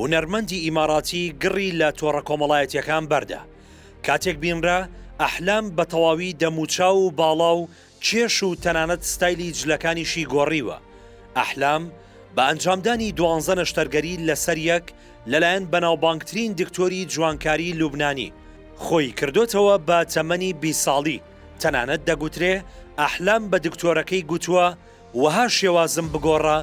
هونەرمەندی ئیماراتی گڕی لە تۆڕە کۆمەڵایەتییەکان بەردا، کاتێک بینرا ئەحلام بە تەواوی دەموچاو و باڵا و کێش و تەنانەت ستایلی جلەکانیشی گۆڕیوە، ئەحلام بە ئەنجامدانی دوانزە نەشتەرگەری لەسەر یەک لەلایەن بەناوبانگترین دکتۆری جوانکاری لوبنانی، خۆی کردۆتەوە بە تەمەنی بیست ساڵی، تەنانەت دەگوترێ ئەحلام بە دکتۆرەکەی گوتووە وەها شێوازم بگۆڕا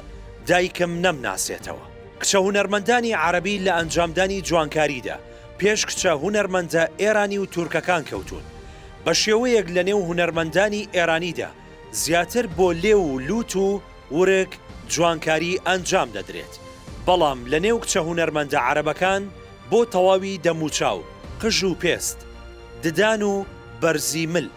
دایکم نەمناسێتەوە. کچە هونەرمەندانی عەرەبی لە ئەنجامدانی جوانکاریدا پێش کچە هونەرمەندە ئێرانی و تورکەکان کەوتوون. بە شێوەیەک لە نێو هونەرمەندانی ئێرانیدا زیاتر بۆ لێو و لووت و ورگ جوانکاری ئەنجام دەدرێت، بەڵام لە نێو کچە هونەرمەندە عەرەبەکان بۆ تەواوی دەموچاو، قژ و پێست، ددان و بەرزی مل.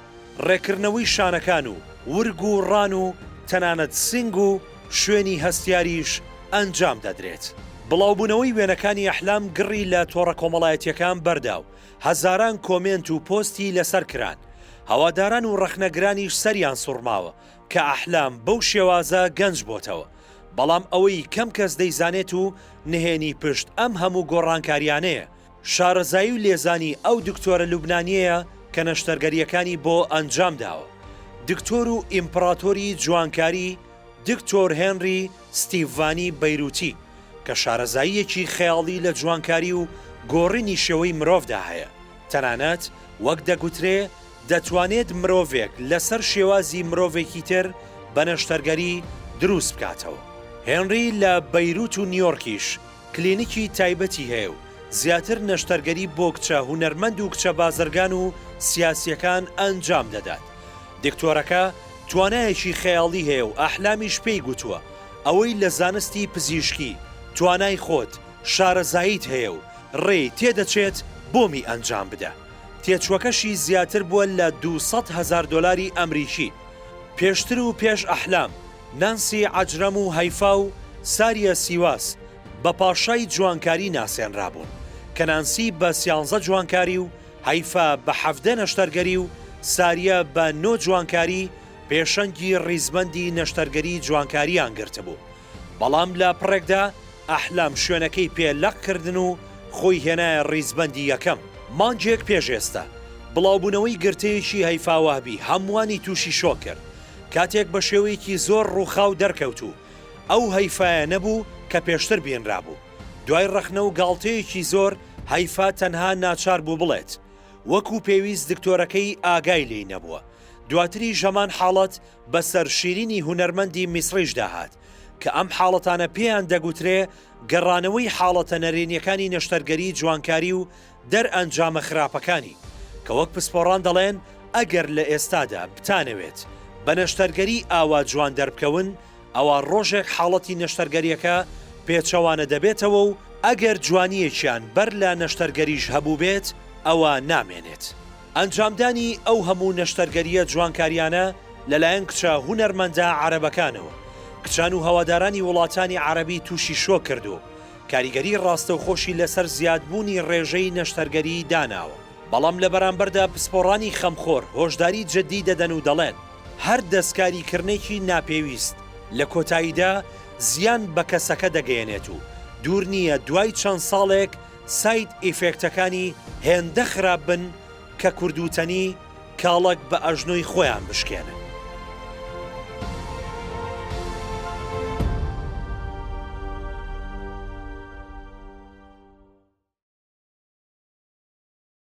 ڕێکردنەوەی شانەکان و ورگ و ڕان و تەنانەت سینگ و شوێنی هەستیاریش ئەنجام دەدرێت. بڵاوبوونەوەی وێنەکانی ئەحلام گڕی لە تۆڕە کۆمەڵایەتییەکان بەردا و هەزاران کۆمێنت و پۆستی لەسەر کران، هەواداران و ڕەخنەگرانیش سەریان سوڕماوە کە ئەحلام بەو شێوازە گەنج بۆتەوە، بەڵام ئەوەی کەم کەس دەیزانێت و نهێنی پشت ئەم هەموو گۆڕانکارییانەیە شارەزایی و لێزانی ئەو دکتۆرە لوبنانیەیە کە نەشتەرگەریەکانی بۆ ئەنجام داوە. دکتۆر و ئیمپڕاتۆری جوانکاری دکتۆر هێنری ستیڤانی بەیروتی کە شارەزاییەکی خەیاڵی لە جوانکاری و گۆڕینی شێوەی مرۆڤدا هەیە تەنانەت وەک دەگوترێ دەتوانێت مرۆڤێک لەسەر شێوازی مرۆڤێکی تر بە نەشتەرگەری دروست بکاتەوە. هێنری لە بەیروت و نیۆرکیش کلینیکی تایبەتی هەیە و زیاتر نەشتەرگەری بۆ کچە هونەرمەند و کچە بازرگان و سیاسییەکان ئەنجام دەدات. دکتۆرەکە توانایەکی خەیاڵی هەیە و ئەحلامیش پێی گوتووە ئەوەی لە زانستی پزیشکی توانای خۆت شارەزاییت هەیە و ڕێی تێ دەچێت بۆمی ئەنجام بدە. تێچووەکەشی زیاتر بووە لە دوو سەد هەزار دۆلاری ئەمریکی. پێشتر و پێش ئەحلام نانسی عەجرەم و هەیفا و ساریە سیواس بە پاشای جوانکاری ناسێنرابوون، کە نانسی بە سیانزە جوانکاری و هەیفا بە حەڤدە نەشتەرگەری و ساریە بە نۆ جوانکاری پێشەنگی ڕیزبەندی نەشتەرگەری جوانکارییان گرتبوو، بەڵام لە پڕێکدا ئەحلام شوێنەکەی پێ لەق کردن و خۆی هێنایە ڕیزبەندی یەکەم. مانگێک پێش ئێستە، بڵاوبوونەوەی گرتەیەکی هەیفا وەهبی هەمووانی تووشی شۆک کرد، کاتێک بە شێوەیەکی زۆر ڕووخاو دەرکەوت و ئەو هەیفایە نەبوو کە پێشتر بینرابوو. دوای ڕەخنە و گاڵتەیەکی زۆر، هەیفا تەنها ناچار بوو بڵێت، وەکو پێویست دکتۆرەکەی ئاگای لێی نەبووە. دواتریش هەمان حاڵەت بەسەر شیرینی هونەرمەندی میسڕیشدا هات، کە ئەم حاڵەتانە پێیان دەگوترێ گەڕانەوەی حاڵەتە نەرێنیەکانی نەشتەرگەری جوانکاری و دەرئەنجامە خراپەکانی، کە وەک پسپۆڕان دەڵێن ئەگەر لە ئێستادا بتانەوێت بە نەشتەرگەری ئاوا جوان دەربکەون، ئەوا ڕۆژێک حاڵەتی نەشتەرگەرییەکە پێچەوانە دەبێتەوە و ئەگەر جوانییەکیان بەر لە نەشتەرگەریش هەبووبێت، ئەوا نامێنێت. ئەنجامدانی ئەو هەموو نەشتەرگەرییە جوانکارییانە لەلایەن کچە هونەرمەندە عەرەبەکانەوە، کچان و هەوادارانی وڵاتانی عەرەبی تووشی شۆک کرد و کاریگەری ڕاستەوخۆشی لەسەر زیادبوونی ڕێژەی نەشتەرگەریی داناوە، بەڵام لە بەرامبەردا پسپۆڕانی خەمخۆر هۆشداری جددی دەدەن و دەڵێن، هەر دەستکاریکردنێکی ناپێویست لە کۆتاییدا زیان بە کەسەکە دەگەیەنێت و دوور نییە دوای چەند ساڵێک ساید ئیفێکتەکانی هێندە خراپ بن کە کوردوتەنی کاڵەک بە ئەژنۆی خۆیان بشکێنن.